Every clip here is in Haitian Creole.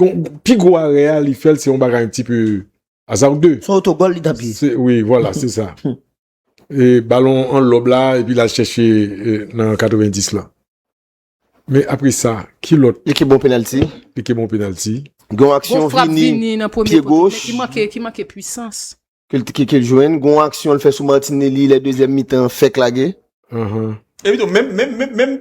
Gon, pi gwo arè a li fèl se yon bagay yon ti pe aza ou de. Son otogòl li t ap jwe. Wi, vwala, se sa. E balon an lòb la, epi l al chèche nan 90 lan. Men apre sa, ki lòt. Li ke bon penalti. Li ke bon penalti. Gen yon aksyon Vini, pye goch. Ki manke, ki manke pwisans. Ke l jwenn. Gen yon aksyon l fè sou Martinelli lè dezyèm mitan an fèk lage. Epi tou, menm, menm, menm, menm.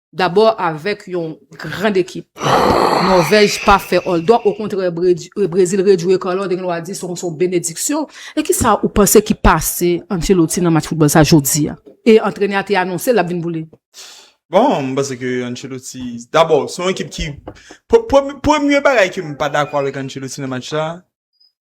Dabò avèk yon grand ekip. Nòvèj pa fè òldò, okontrè Brezil rejwe Carlo Andeloa di son son benediksyon. E kisa ou panse ki pase Ancelotti nan match foutbòl sa jodi a? E antrenè a te anonse lap vin boule. Bon, m panse ke Ancelotti, dabò son ekip ki, premye bagay ke m pa dakò avèk Ancelotti nan match sa,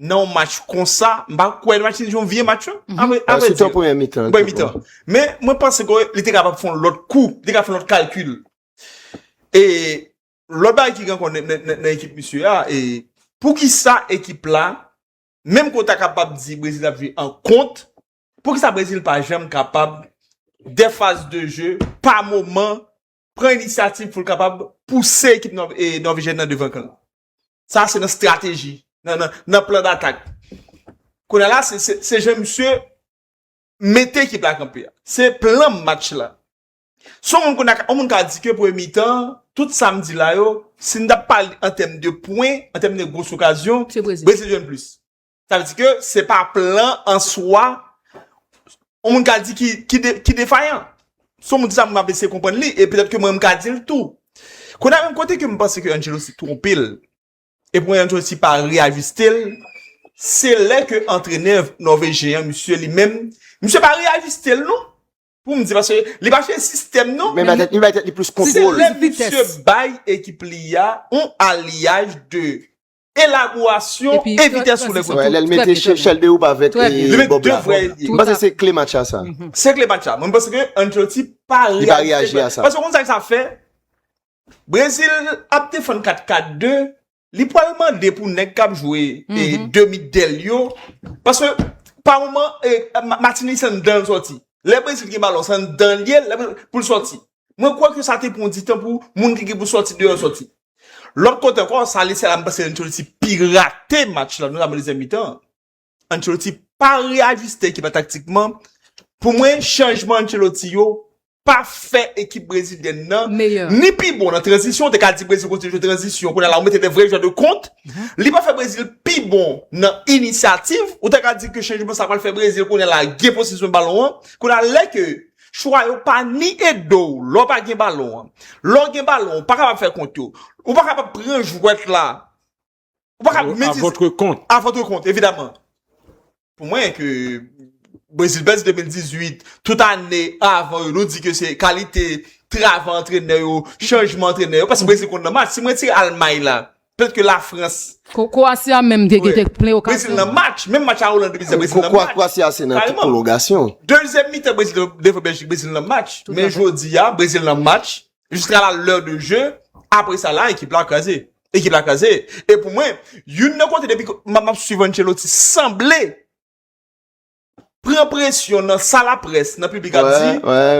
nan yon match konsa, m pa kwè match se yon vye match lan, a vre di. Sitou premye mitan. Premye mitan. Men, mwen panse ke li te kapab fè yon lòt kou, li te kapab fè yon lòt kalkil. E, lòt bagay ki gen kon nan ekip misye a, e, pou ki sa ekip la, menm ke w ta kapab di Brezil ap jwe an kont, pou ki sa Brezil pa janm kapab, de faz de je, pa moman, pran inisyativ pou l kapab pouse ekip Nòvejyèn nan devan kan l? Sa se nan strateji, nan plan datak. Kounye la, se jan misye mete ekip la kanpe a. Se plan match la. Son moun kounye la, on moun ka di ke premye mitan, tout sa m di la yo, si n ta pale an tèm de pwen, an tèm de gros okazyon, Brezil jwenn plis. Sa vle di ke se pa plan an swa yon moun ka di ki defayan. Si yon moun di sa, mwen ap eseye konprann li, e petèt ke mwen menm m ka di l tou. Kounye a menm kote ke m panse ke Angelo se twonpe l, e pou mwen Angelo si pa reyajiste l, se lè ke antrenè Nòvejyen an, misye li menm, misye pa reyajiste l non, pou m di, paske li pa chanje sistèm non. Men li bay tèt li plis kontwòl. Se lè misye bay ekip li a yon aliyaj de Elaborasyon e vitès sou lè kote. Lè l mete chèl de oub avèk bob la. Mwen panse se kle match la sa. Se kle match la. Mwen panse ke Ancelotti pa reyaji a sa. Paske ou konn sa sa fè? Brezil ap defann 4-4-2, li pral mande pou nèg k ap jwe demi dèl yo. Paske pa moman Martinelli se anndan l sòti. Lè Brezil gen balon se anndan l ye pou l sòti. Mwen kwè ke sa te pran di tan pou moun ki gen pou sòti deyò sòti. Lòt kote ankò, sa ale sa la m panse Ancelotti pirate match la, notamman dezyèm mitan an. Ancelotti pa reyajiste ekip la taktikman. Pou mwen, chanjman Ancelotti yo pa fè ekip brezilyèn nan ni pi bon nan tranzisyon, ou te ka di Brezil kontinye jwe tranzisyon, kounye a la ou mete de vrè jwè de kont, li pa fè Brezil pi bon nan inisyativ, ou ta ka di ke chanjman sa pral fè Brezil kounye a la gen posesyon balon an, kounye a lè ke Chwa yo pa ni ede w lè w pa gen balon an. Lè w gen balon an, ou pa kapab fè kont yo. Ou pa kapab pran jwèt la. Ou pa kapab mete. A votre compte. A votre compte, evidaman. Pou mwen ke Brezil Bèlj 2018, tout ane avan yo, nou di ke se kalite travay antrenè yo, chanjman antrenè yo, paske Brezil konn nan match. Si mwen tire Almay la. Pèt ke la frans. Kroasi a menm te gete plen okasyon. Brezil nan match. Menm match a Oland te pise Brezil nan match. Kroasi a se nan tout pwolongasyon. Dezyèm mitan Brezil devan Bèljik, Brezil nan match. Men jodi a, Brezil nan match. Jiska la lè de je. Apre sa la ekip la kraze. Ekip la kraze. E pou mwen, youn nan kote depi map swiv Ancelotti sanble. pran presyon nan sa la près, nan piblik ap di,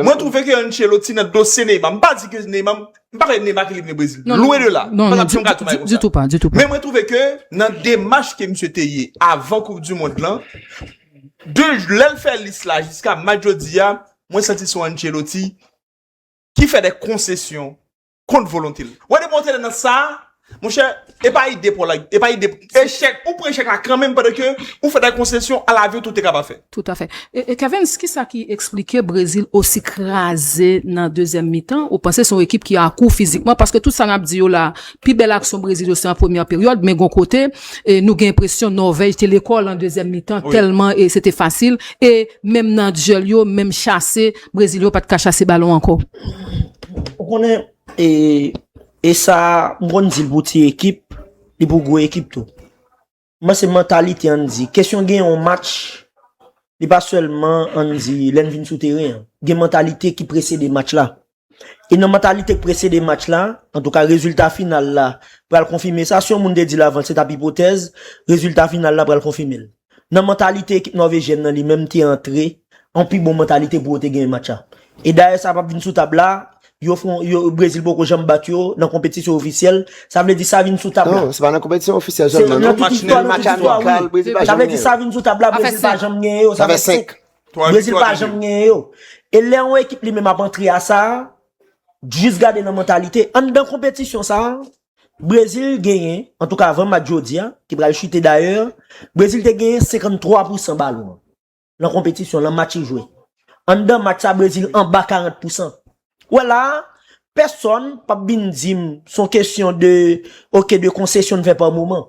mwen twouve ke Ancelotti nan dosye Neymar, m pa di ke Neymar, m pa pale Neymar ki vle vini Brezil, lwen de la, m pa tap di yon gason pale konsa. Ditou pa, ditou pa. Men mwen twouve ke nan demach ke misye te ye avan koup di mond lan, de lè l fè lis la jiska mat jodi a, mwen santi son Ancelotti ki fè de konsesyon kont volonte l. Wè depi yon tèlè nan sa, monchè, e pa ide pou la, e pa ide, e chèk, ou pran chèk la kanmenm pandan ke ou fè dè konsesyon alavni w te kapab fè. Toutafè. E Kevens, kisa ki eksplike Brezil osi kraze nan dezyèm mitan? Ou panse se yon ekip ki akou fizikman? Paske tout sa n ap di yo la, pi bèl aksyon Brezil yo se an premyè peryòd, men gon kote, nou gen enpresyon Nòvèj te lekòl an dezyèm mitan tèlman se te fasil e menm nan dyèl yo, menm chase, Brezil yo pat ka chase balon ankò. Ou konnen e sa m konn di l pou ti ekip, li pou gwo ekip tou. Mwen se mantalite an di. Kesyon gen yon match, li pa sèlman an di lè n vin sou teren an. Gen mantalite ki presede match la. E nan mantalite k presede match la, antouka rezilta final la pral konfime sa. Si yon moun te di l avan l se t ap ipotèz, rezilta final la pral konfime l. nan mantalite ekip Nòvejyèn nan li menm te antre yon pi bon mantalite pou yo te genyen match la. E dayè sa pap vin sou tab la, yo fon yo Brezil poko janm bat yo nan konpetisyon ofisyèl, sa vle di sa vin sou tab la. Non, se pa nan konpetisyon ofisyèl Se sèlman nan non. tout Match istwa, nul, nan match tout istwa, amikal, wi. Brezil pa Sa janm vle di genyen. sa vin sou tab la, Sa fè Brezil pa senk. janm genyen yo, Sa sa fè fè 5. 5. Twa Brezil viktwa, pa de janm nul. genyen yo. E lè yon ekip li menm ap antre a sa, jis gade nan mantalite, anndan konpetisyon sa, Brezil genyen, antouka avan match jodi a, ki pral chite dayè, Brezil te genyen 53 pousan balon an, nan konpetisyon, nan match yo jwe. Anndan match sa, Brezil anba 40 pousan. Ou wè la a, pèsòn p ap vin di m s on kesyon de, ok, de konsesyon n fè pa moman.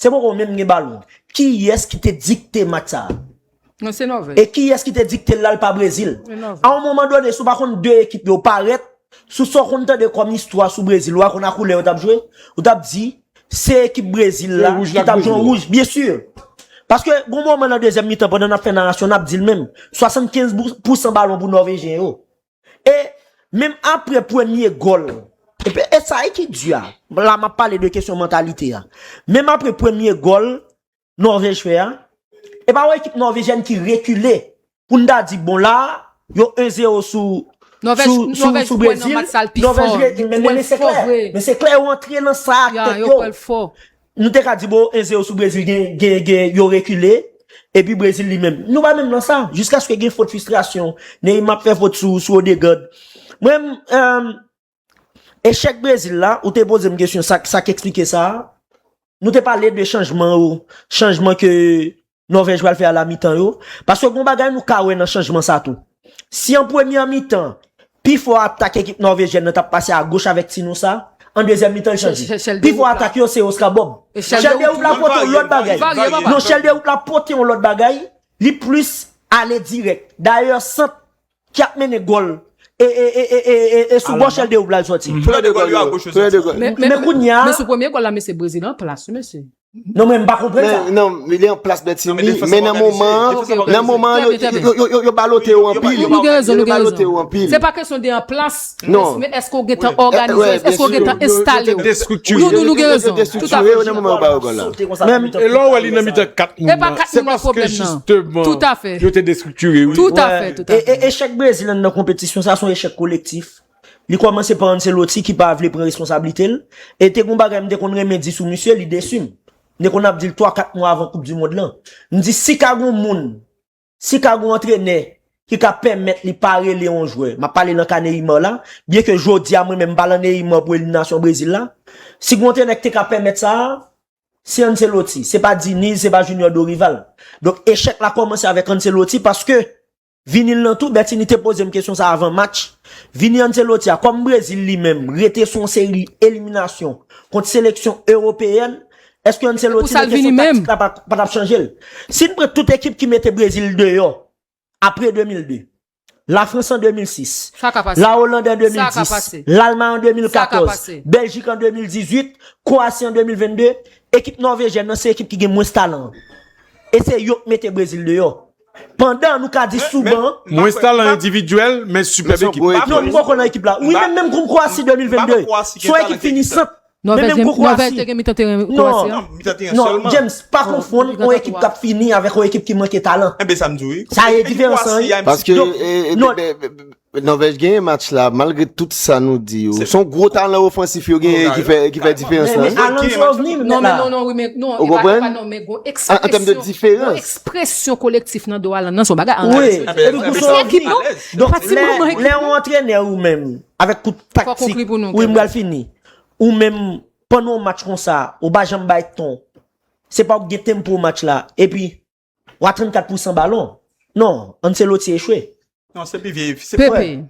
Se poko w menm gen balon. Kiyès ki te dikte match sa a? Non se Nòvèj. E kiyès ki te dikte l la l pa Brezil? Se Nòvèj. A on moman done si w pa konn 2 ekip yo parèt sou sa w konn tande kòm istwa sou Brezil wa konn a koulè yo t ap jwe ou t ap di se ekip Brezil la ki t ap jwe an wouj byen si paske gon moman nan dezyèm mitan pandan n ap fè narasyon n ap di l menm 75 pou san balon pou Nòvejyen yo. E menm apre premye gòl, e sa ki di a, la m ap pale de kesyon mantalite a, menm apre premye gòl Nòvèj fè a, e pa wè ekip nòvejyèn ki rekile pou n ta di bon la a, yo 1 zero sou Brezil. Nòvèj kwè nan match sa l pi fò, li kwè l fò vre. Men se klè yo antre nan sa a ak tèt yo. Nou te ka di bon enze yo sou Brezil gen yo rekile epi Brezil li menm. Nou pa menm nan sa. Jiskaske gen fot fistrasyon. Neyma ap fè fot sou Odegard. Mwen menm echèk Brezil la ou te poze m kesyon sa k eksplike sa a. Nou te pale de chanjman yo. Chanjman ke Nòvèj pral fè a la mitan yo, paske gon bagay nou ka wè nan chanjman sa tou. Si an premyè mitan, pi fò atak ekip nòvejyèn nan t ap pase agoch avèk ti nou sa, an dezyèm mitan li chanje. Pi fò atak yo se Oscar Bob. Chèl Dewout la pote yon lòt bagay. Non, Chèl Dewout la pote yon lòt bagay, li plis ale dirèk. Dayè sant Ki ap mennen gòl e sou gòch el Deoub la l sòti. Flè de gòl yo a goch yo sòti. Men kounye a. Men sou premye gòl la mesye Brezil an plas wi mesye. Non men m pa konprann sa. Non men li an plas Bertinie men nan moman an nan moman an yo balote yo anpil. Nou gen rezon nou gen rezon. Se pa kesyon de an plas. Non. Men eske ou gentan òganize, eske ou gentan enstale ou? Nou nou nou gen rezon. Tout a fè. Menm e lò wè li nan mitan 4 moun nan. Se paske jisteman yo te destriktire. Tout a fè. E echèk Brezil lan nan konpetisyon sa son echèk kolektif. Li kòmanse pa Ancelotti ki pa vle pran responsablite l. E te gon bagay m te konn renmen di sou misye, li desi m. M te konn ap di l 3, 4 mwa avan koup di mond lan. M di si ka gon moun. Si ka gon antrenè ki ka pèmèt li pa rele yon jwè, m ap pale nan ka Neymar la, byen ke jodi a mwen menm m pa lan Neymar pou eliminasyon Brezil la, si gon antrenè ki te ka pèmèt sa a, se Ancelotti, se pa Diniz, se pa Junior Dorival. Donk echèk la kòmanse avèk Ancelotti paske Vini l lan tou, Bertinie te poze m kesyon sa a avan match, Vini Ancelotti a, kòm Brezil li menm rete sou yon seri eliminasyon kont seleksyon ewopeyèn, Eske Ancelotti nan kesyon taktik la pa tap chanje l? Si n pran tout ekip ki mete Brezil deyò apre 2002, La Frans an 2006, La Oland an 2010, Lalmay an 2014, Beljik an 2018, Kowasi an 2022, ekip Nòvejyèn nan se ekip ki gen mwens talan. E se yo k mete Brezil deyò. Pandan nou ka di sou ban. Mwens talan endividyèl men sipèb ekip. Non m bòkò nan ekip la. Wi men menm kon Kowasi 2022. Son ekip fini sant. Nòvèj te gen mitan teren an. Non, James, pa konfonn yon ekip k ap fini avèk yon ekip ki manke talan. Enben sa m di w wi. Sa e diferans lan wi. Paske Nòvèj genyen match la malgre tout sa nou di yo. Son gwo talan ofansif yo genyen ki fè diferans lan. Alan di w vni menm la. Non, non, non, non. Ou konprann? An tèm de diferans. Yon ekspresyon kolektif nan do Alan nan son bagay. Wi. Epi son ekip non. Lè yon antrenè ou menm avèk tout taktik. Fò konkli pou nou. Wi m pral fini. Ou menm pandan yon match konsa ou pa janm bay ton se paw k gen tempo match la epi w a 34 pou 100 balon non Ancelotti echwe. Non se pi vye se pi vye. Pepe,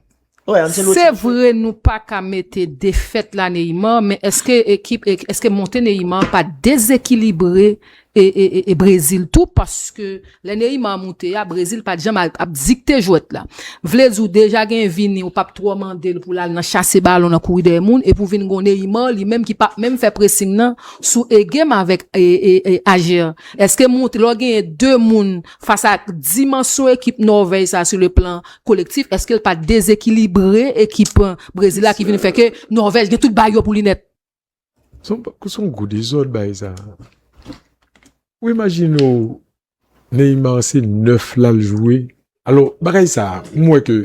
se vre nou pa ka mete defèt la Neymar men eske ekip eske monte Neymar pa dezekilibre e Brezil tou paske lè Neymar moute a Brezil pat janm ap dikte jwèt la vle di ou deja gen Vini ou pap twò mandel pou lal nan chase balon nan kouri dèyè moun epi ou vin gen yon Neymar li menm ki pap menm fè pressing nan sou egem avèk Ajer eske moute lè w genyen 2 moun fas a dimansyon ekip Nòvèj sa sou le plan kolektif eskel pa dezekilibre ekip Brezil la ki vin fè ke Nòvèj gen tout bayo pou li nèt. Son, son gwo dezòd bay sa. Ou imajine ou Neymar se 9 la l jwe. Alò, bagay sa, m wè ke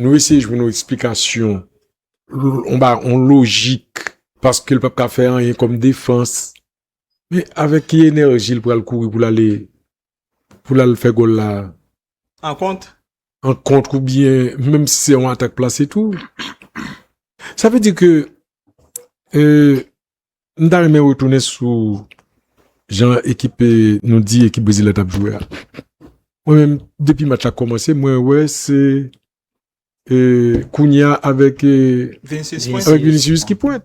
nou eseye jwenn yon eksplikasyon, yon ba, yon lojik, paske l pap ka fè anyen kòm defans. Men, avèk ki enèji l pral kouri pou l ale, pou l al fè gòl la a? Ankont, an kontr ou byen menm si se yon atak plase tou sa vle di ke m ta renmen retounen sou jan ekip nou di ekip brezil la tap jwe a mwen menm depi match la komanse mwen wè se kounya avèk vinicius ki pwent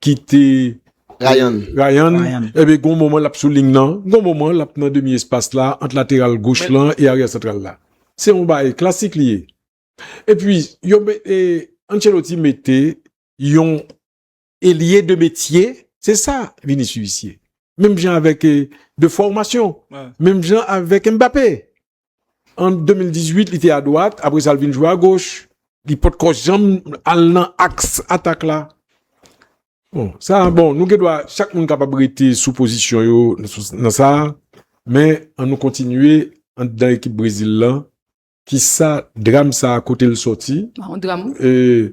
kite Ryan Ryan Ryan. Ebyen gon moman l ap sou ling nan, gon moman l ap nan demi espas la ant lateral goch Men- lan e aryè santral la. Se yon bagay klasik li ye. Epi yo me e Ancelotti mete yon elye de metye, se sa Vinicius ye. Menm jan avèk e de fòmasyon, Wè. menm jan avèk Mbappé. An 2018 li te a dwat, apre sa l vin jwe a goch. Li pot ko janm al nan aks atak la. Bon, sa a bon, nou gen dwa, chak moun kapab rete sou pozisyon yo nan sa a, men an nou kontinye anndan ekip Brezil lan, kisa dram sa a kote l sòti? Yon dram wi.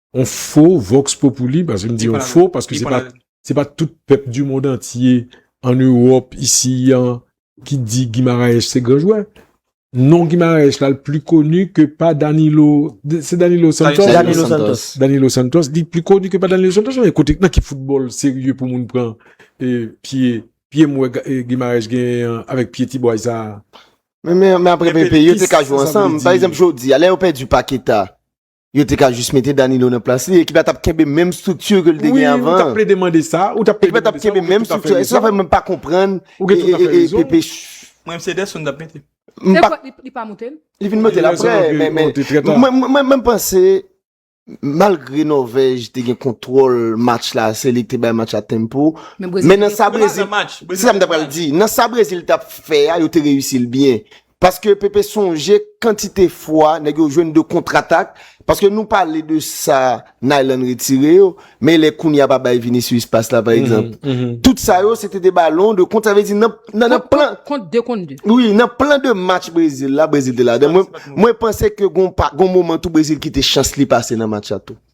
On fo vox populi, paske m di on fo, paske se pa, se pa tout pèp du mond antye, an Ewòp, isi, an, ki di Guimaraes se gran jwè. Non Guimaraes la l pli koni ke pa Danilo, se Danilo Santos? Danilo Santos. Danilo Santos, li pli koni ke pa Danilo Santos, mwen kote, nan ki foutbòl serye pou moun pran e pye, pye m wè Guimaraes genyen an, avèk pye ti bway sa a? Men, men, men apre Pepe, yo te ka jwe ansanm. Pa egzanp, jodi a, lè yo pèdi Paqueta, Yo te ka jis mete Danilo nan plas li, ekip la tap kenbe menm structure ke li te gen avan. Wi, ou tap plede mande sa, ou tap plede mande sa, ou gen tout afè rezon. Sa fè mwen pa konprann Pepe. Mwen mse Ederson tap mete. Se vre li pa moute. Li vin moute la pre, men men. Mwen mwen panse, malgre Norvèj te gen kontwòl match la, se li ki te bay match la tempo, men nan sa Brezil, se sa mwen tap pral di, nan sa Brezil tap fè a, yo te reyisi l byen. Paske Pepe sonje kantite fwa nèg yo jwenn de kontratak, paske nou pale de sa Nayland retire yo, men lè Kounya pa bay Vinicius pas la pa egzanp. Tout sa yo se te de balon de kont, sa vle di nan plan. Kont 2 kont 2. Wi, nan plan de match Brezil la, Brezil te ladan. Mwen panse ke gon moman tou Brezil kite chans li pase nan match la tou.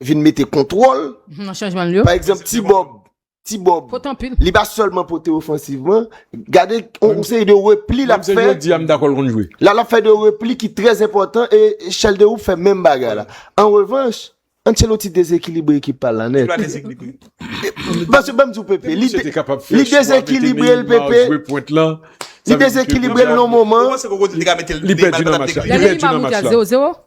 vin mete kontwòl, pa egzanp ti bòb, ti bòb, li pa sèlman pote ofansivman, gade yon seri de repli l ap fè, la l ap fè de repli ki trèz enpòtan, e Chalderoup fè menm bagay la. An revanch, Ancelotti dezekilibre ekip pa l la nèt. Pase banm di w Pepe, li dezekilibre l Pepe, li dezekilibre l nan moman, li pèdi nan match la.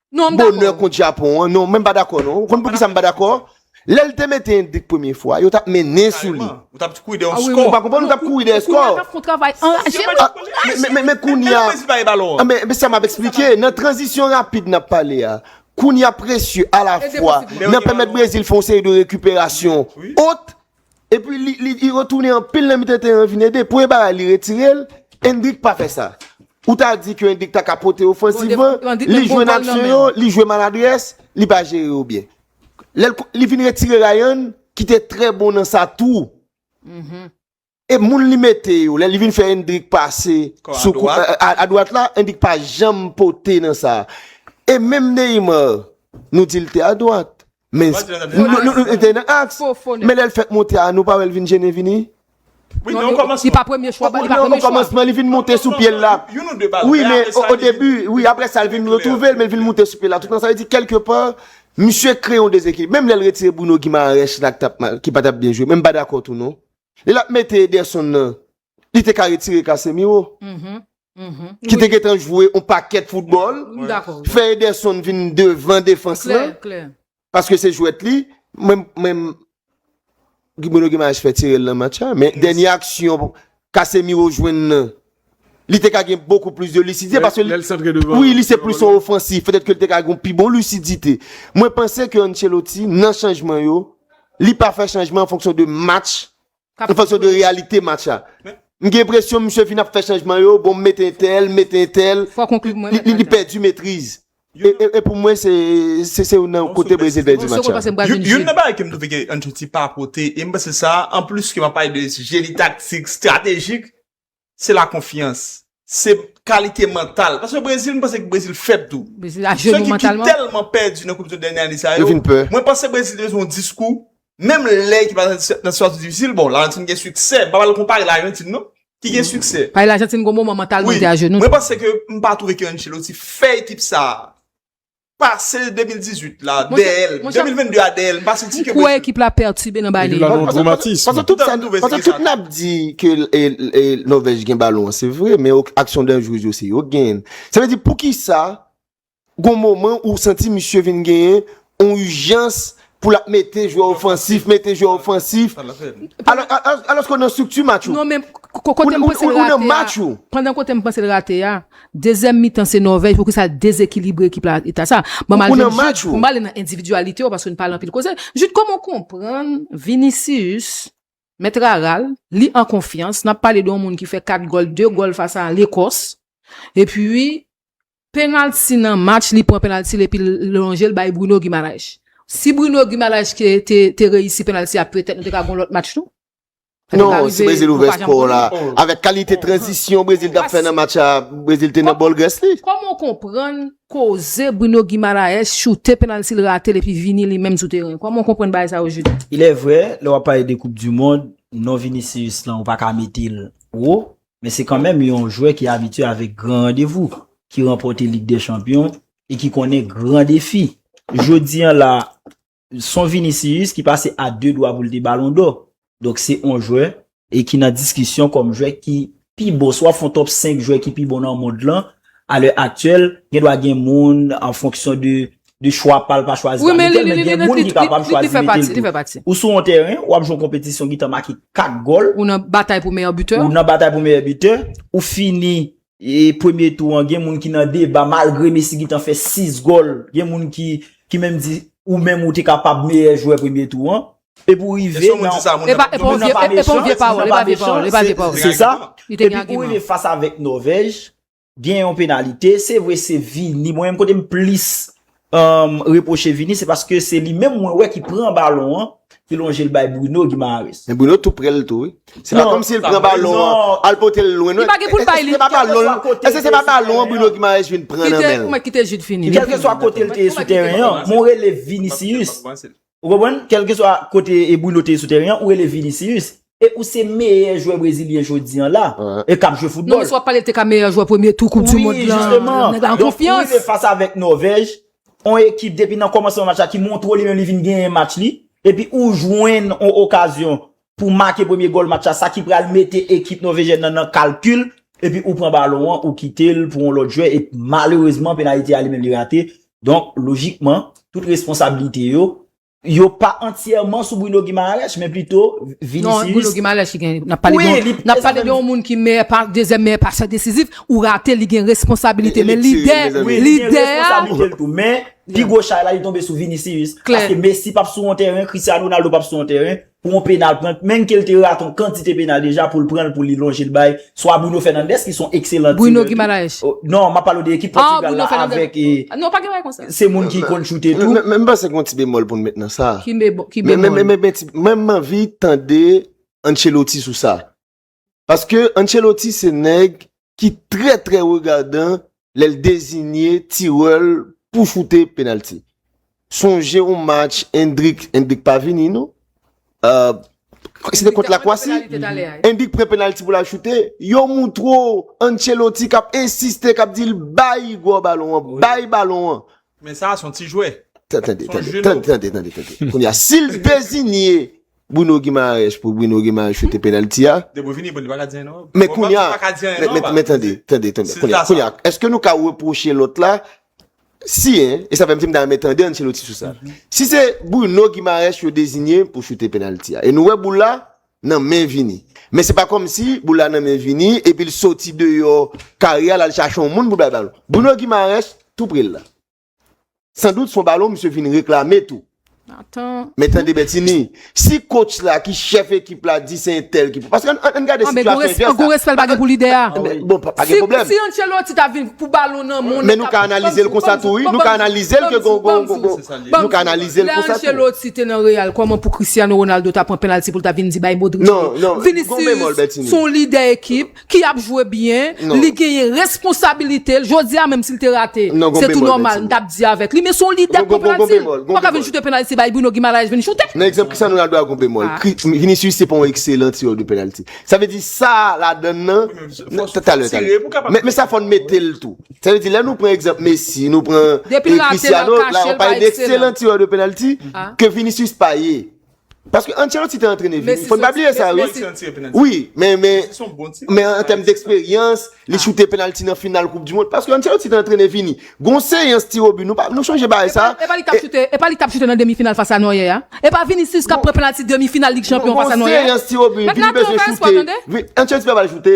Non, m dakò. Bonè kont Japon an. Non, mwen pa dakò non. Ou konn poukisa m pa dakò? Lè l te mete Endrik premye fwa, yo t ap mennen sou li. Kareman. Ou t ap kouri dèyè yon skò. Ou pa konprann? Ou t ap kouri dèyè skò. Kounya l ap fè yon travay anraje wi. Anraje! Men, men kounya. Epi Brésil pa gen balon an. Men, men sa m ap esplike. Nan tranzisyon rapid n ap pale a, kounya Precieux alafwa nan pèmèt Brésil fè yon seri de rekiperasyon ot Epi li retounen anpil nan mitan teren an vin ede. Premye bagay li retire l, Endrick pa fè sa. Ou ta di ke Endrick ta ka pote ofansivman, li jwe nan aksyon yo, li jwe maladrès, li pa jere yo byen. Li vin retire Ryan ki te trè bon nan sa tou. E moun li mete yo, lè li vin fè Endrick pase sou kou a dwat la, Endrick pa janm pote nan sa. E menm Neymar, nou di l te a dwat, Men men lèl fèk monte a nou pa wèl vin jennen vini Wi men okomansman li vin monte sou pyel la Wi men odebi wi aprè sa li vin retrouvel men li vin monte sou pyel la tout sa vle di kelke pa misye kreye yon dezekilib menm lèl retire Bruno Guimaraes la ki patap byen jwe menm pa dakò tou non Lèl ap mete Ederson nan li te ka retire Casemiro ki te gentan jwe yon pakèt foutbòl, fè Ederson vin devan defans lan, paske se jwèt li, menm Gibouno Gimaes fè tire l nan match la, men dènye aksyon Casemiro jwenn nan, li te ka gen bokou plis de lisidye, paske li se plis yon ofansif, petèt ke li te ka gen yon pi bon lisidite. Mwen panse ke Ancelotti nan chanjman yo, li pa fè chanjman an fonksyon de match, Sa fè sòt de reyalite match la. M gen enpresyon misye fin ap fè chanjman yo, bon m mete entèl, m mete entèl, li pèdi metriz. E pou mwen se se youn nan kote Brezil pèdi match la. Youn nan bagay ke m twouve ke Ancelotti pa pote, e m panse sa, anplis ke m ap pale de jeni taktik, stratejik, se la konfyans. Se kalite mantal. Paske Brezil m panse ke Brezil fèb tou. Brezil a jenou mantalman. Sou ekip ki tèlman pèdi nan koup du dènye ane sa yo. Yo vin pè. Mwen panse Brezil te bezwen yon diskou. Menm lè ekip la nan sitiyasyon difisil. Bon, Lajantin gen siksè. M pa pral konpare Lajantin non. Ki gen siksè. Pale Lajantin gen yon moman mantalman li te a jenou. Wi. Mwen panse ke m pa twouve ke Ancelotti fè ekip sa a. pase 2018 la dèyèl, 2022 a dèyèl, mpa santi ke. M kwè ekip la pètibe nan Baye Leverkusen. Ekip la nan dwomatism. Pase tout sa, pase tout nap di ke Nòvèj gen balon an se vre, men aksyon danjrez yo se yo k genyen l. Sa vle di poukisa gon moman ou santi misye vin genyen yon ijans pou l ap mete jwè ofansif, mete jwè ofansif, alòske w nan estrikti match ou. Non men, kote m panse l rate a, pandan kote m panse l rate a, dezyèm mitan se Nòvèj, pou ki sa l dezekilibre ekip la eta sa. Ou nan match ou. M pale nan endividyalite yo, paske nou pale anpil koze. Jid, kòman w konprann Vinicius, mèt rara l, li an konfyans, n ap pale de yon moun ki fè 4 gòl, 2 gòl fas a Lekòs, epi, Penalty nan match li pran penalty l epi l lonje l bay Bruno Guimaraes. Si Bruno Guimaraes te reyisi penalty a petèt nou te ka gon lòt match tou. Non, si Brezil ouvè skò la, avèk kalite tranzisyon Brezil t ap fè nan match la, Brezil te nan bòl grès li. Kòman w konprann koze Bruno Guimaraes choute penalty l rate l epi vini li menm sou teren? Kòman w konprann bagay sa yo Jude? Ilèvrè, lè w ap pale de koup dimond, non Vinicius lan ou pa ka mete l wo. men se kanmenm yon jwè ki abitye avèk gran randevou, ki ranpòte Lig dè Chanpyon e ki konnen gran defi. Jodi an la, son Vinicius ki pase a 2 dwa pou l te Balon dò. Donk se on jwè e ki nan diskisyon kòm jwè ki pi bon, si w ap fè yon top 5 jwè ki pi bon nan mond lan, a lè aktyèl, gen dwa gen moun an fonksyon de de chwa pa l pa chwazi a mete l men gen moun ki kapab chwazi mete l tou. Ou sou yon tèren, w ap jwe yon konpetisyon ki tan make 4 gòl. Ou nan batay pou meyè bitè. Ou nan batay pou meyè bitè. Ou fini premye tou an gen moun ki nan deba malgre Messi ki tan fè 6 gòl, gen moun ki menm di ou menm ou te kapab meyè jwè premye tou an. Epi ou rive nan. E pa yon vye pawòl, e pa yon vye pawòl, e pa yon vye pawòl. Se sa. Epi ou rive fas avèk Nòvèj. Gen yon penalite, se vre se Vini, mwen menm kote m plis reproche Vini, se paske se li menm mwen wè ki pran balon an, ki lonje l bay Bruno Guimaraes. Men Bruno tou prè l tou wi. Se pa kòm si l pran balon an, al pote l lwen non. Li pa gen pou l bay li. Èske se pa balon l, èske se pa balon an Bruno Guimaraes vin pran nan men l. Kite, kite Jude fini. Kèlkeswa kote l te ye sou tèren an, mwen rele Vinicius, Ou konprann? Kèlkeswa kote e Bruno te ye sou tèren an, ou rele Vinicius. E ou se meyè jwè brezilyen jodi an la. E k ap jwe foutbòl. Non men sa w ap pale l te ka meyè jwè premye tou koup di mond lan. Nèg la an konfyans. Donk ou rive fas avèk Nòvèj, on ekip depi nan kòmansman match la ki montre w li menm li vin genyen match li, epi ou jwenn on okazyon pou make premye gòl match la sa ki pral mete ekip Nòvejyèn nan nan kalkil epi ou pran balon an ou kite l pou yon lòt jwè e malerezman penalite a li menm li rate donk lojikman tout responsabilite yo yo pa antyèman sou Bruno Guimaraes men plito Vinicius Non Bruno Guimaraes ki gen nap pale de nap pale de yon moun ki meyè pa dezyèm meyè pasè desizif ou rate li gen responsabilite men lidè lidè a men pi gwo chay la li tonbe sou Vinicius paske Messi pap sou yon tèren Cristiano Ronaldo pap sou yon tèren pou yon penal prank menn ke l te rate yon kantite penal deja pou l pran l pou li lonje l bay swa Bruno Fernandes ki se yon ekselan tirè tou non m ap pale w de ekip Pòtigal la avèk se moun ki konn choute tou men m panse gon ti bemòl pou n met nan sa men m anvi tande Ancelotti sou sa Paske Ancelotti se nèg ki trè trè regadan lè l dezinye tirè l pou choute penalti. Sonje yon match Endrick, Endrick pa vini non, se te kont Lakwasi, Endrick pran penalti pou l al choute, yo moutre w Ancelotti k ap ensiste, k ap di l bay Igor balon an, bay balon an. Men sa a s on ti jwè. Tande, tande, tande, tande, tande, tande. Kounye a, si l dezinye Bruno Guimaraes pou Bruno Guimaraes choute penalty a. Depi w vini bon li paka di anyen non. Men kounya, men tande, tande, tande, kounya, kounya, eske nou ka repwoche lòt la, si en, e sa fè m di m ta renmen tande Ancelotti sou sa, si se Bruno Guimaraes yo dezinye pou choute penalty a, e nou wè boul la nan men Vini, men se pa kòm si boul la nan men Vini epi l soti deyò kare a l al chache yon moun pou l bay balon. Bruno Guimaraes tou pre l la. San dout son balon misye vin reklame tou. Men tande Bètini, si kotch la ki chèf ekip la di se entèl ki pou... Paske an gade si chèf la... An gou respèl pa gen pou lide a. Bon, pa gen problem. Si yon chèl ou ti ta vin pou balon nan moun... Men nou ka analize l konsa tou, nou ka analize l ke gon gon gon gon. Nou ka analize l konsa tou. Lè an chèl ou ti te nan real, kouman pou Cristiano Ronaldo ta pran penalty pou l ta vin di bay Modric. Non, non. Vinicius son lide ekip. ki ap jwe byen, li genyen responsabilite l, jodi a menm si l te rate, se tou nòmal m t ap di avèk li, men se yon lidè k konprann si, ou pa ka vin choute penalti bay Bruno Guimaraes vin choute. Nan egzanp sa nou la dwa gon bemòl, Vinicius se pa yon ekselan tirè de penalti, sa vle di sa ladann nan, talè talè, men sa fò n mete l tou, sa vle di lè nou pran egzanp Messi, nou pran Cristiano, la ou pale de ekselan tirè de penalti, ke Vinicius pa ye. Paske Ancelotti te antrene Vini, fò n pa bliye sa wi. Messi soti yon penalti. Wi, men, men, Messi son bon ti. men an tèm dèksperyans, li choute penalti nan final koup di mond, paske Ancelotti te antrene Vini. Gon seyans tirobi, nou pa, nou sonje bagay sa. Epa li tap choute, epa li tap choute nan demi final fas a Noyè a? Epa Vinicius kap pran penalti demi final lig chanpyon fas a Noyè? Gon seyans tirobi, Vini bezwen choute. Vini, Ancelotti pa bal choute.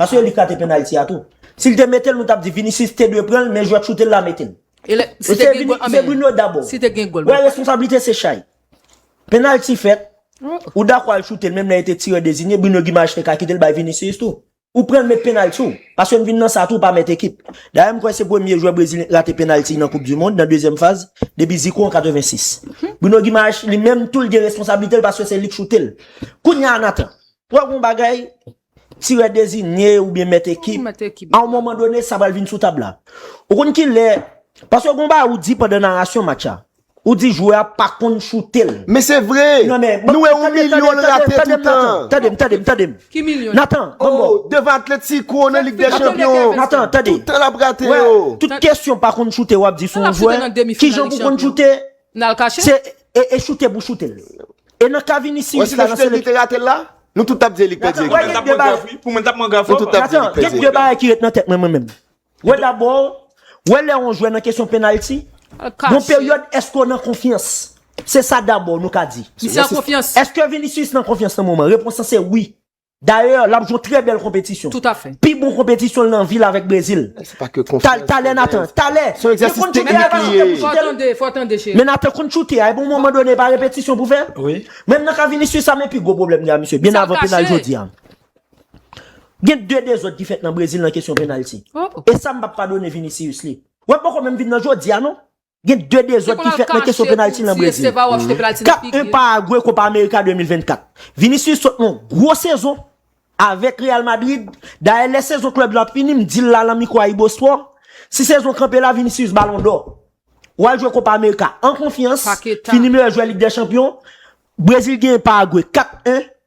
Paske yo li k rate penalty a tou. Sil te metel nou tap di Vinicius te dwe pranl men jwè k choutel la metel. Se Bruno dabò. Wè responsablite se chay. Penalty fèt ou dakò al choutel menm lè li te tirè dezinye Bruno Guimaraes te ka kitel bay Vinicius tou. Ou pranl met penalty ou. Paske n vin nan sa tou ou pa met ekip. Dayè m kwè se premye jwè Brezilyen k rate penalty nan koup du mond nan dezyèm faz depi Zico an 86. Bruno Guimaraes li menm tou l gen responsablitel paske se li k choutel. Kounya Nathan wè gon bagay Tirè dezinye oubyen mèt ekip, a yon moman done sa pral vin sou tab la. Ou konn ki lè, paske gen yon bagay ou di pandan narasyon match a. Ou di jwè a pa konn choute l. Men se vre! Nou wè yon milyon l rate toutan. Tande m, tande m, tande m. Ki milyon? Natan, ban m bo. Oh, devan Atletico nan Lig dè Chanpyon. Natan, tande. Toutan l ap rate yo. Tout kesyon pa konn choute w ap di sou yon jwè. Kijan pou konn choute, Nal kache. Se e e choute pou choute l. E nan ka Vinicius la nan selek. Nou tout tap di elik pèdi ekip la. Pou mwen tap mwen graf fò. Natan gen 2 bagay ki ret nan tèt mwen mwen menm. Wè dabò, wè lè yon jwè nan kesyon penalty. Al kache. Yon peryòd èske w nan konfyans. Se sa dabò nou ka di. Misye an konfyans. Èske Vinicius nan konfyans nan moman? Repons lan se wi. Dayè, l ap jwe yon trè bèl konpetisyon. Pi bon konpetisyon l nan vi l avèk Brezil. Talè Nathan, talè! Fò w tande, fò w tande cheri. Men Nathan konn choute a, epi yon moman done e pa repetisyon pou fè? Wi. Menm nan ka Vinicius la men pi gwo pwoblèm gen a misye, byen avan penal jodi a. Gen 2 dezòd ki fèt nan Brezil nan kesyon penalti. E sa m p ap padone Vinicius li. Wè l poko menm vin nan jodi a non. Gen 2 dezòd ki fèt nan kesyon penalti nan Brezil. Kap 1 Paragwe Kopa Amerika 2024. Vinicius sot nan yon gwo sezon avèk Real Madrid. Dayè lè sezon klèb lan ap fini, m di l la nan mikwo AyiboSport, si sezon kanpe la Vinicius balon dò. Ou al jwe Kopa Amerika an konfyans, fini meyè jwè Lig dè Chanpyon. Brezil genyen Paragwe 4, 1.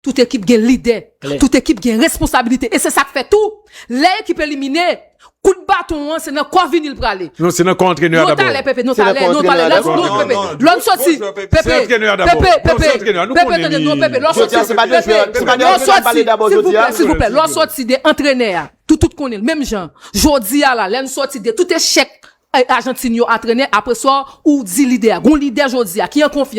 Tout ekip gen lidè, tout ekip gen responsabilite e se sa k fè tou, lè ekip elimine, kout baton an se nan kò Vini l prale. Non, se nan kò antrenè a dabò. Non talè Pepe, non talè, non talè, lè w soti, Pepe, Pepe, Pepe, Pepe tande, non Pepe, lè w soti, Pepe, lè w soti, silvouplè, silvouplè, lè w soti de antrenè a, tout tout konnen l, menm jan, jodi a la, lè n soti de tout echèk Ajantin yo a trenè, apreswa ou di lidè a, gon lidè jodi a ki an konfyans.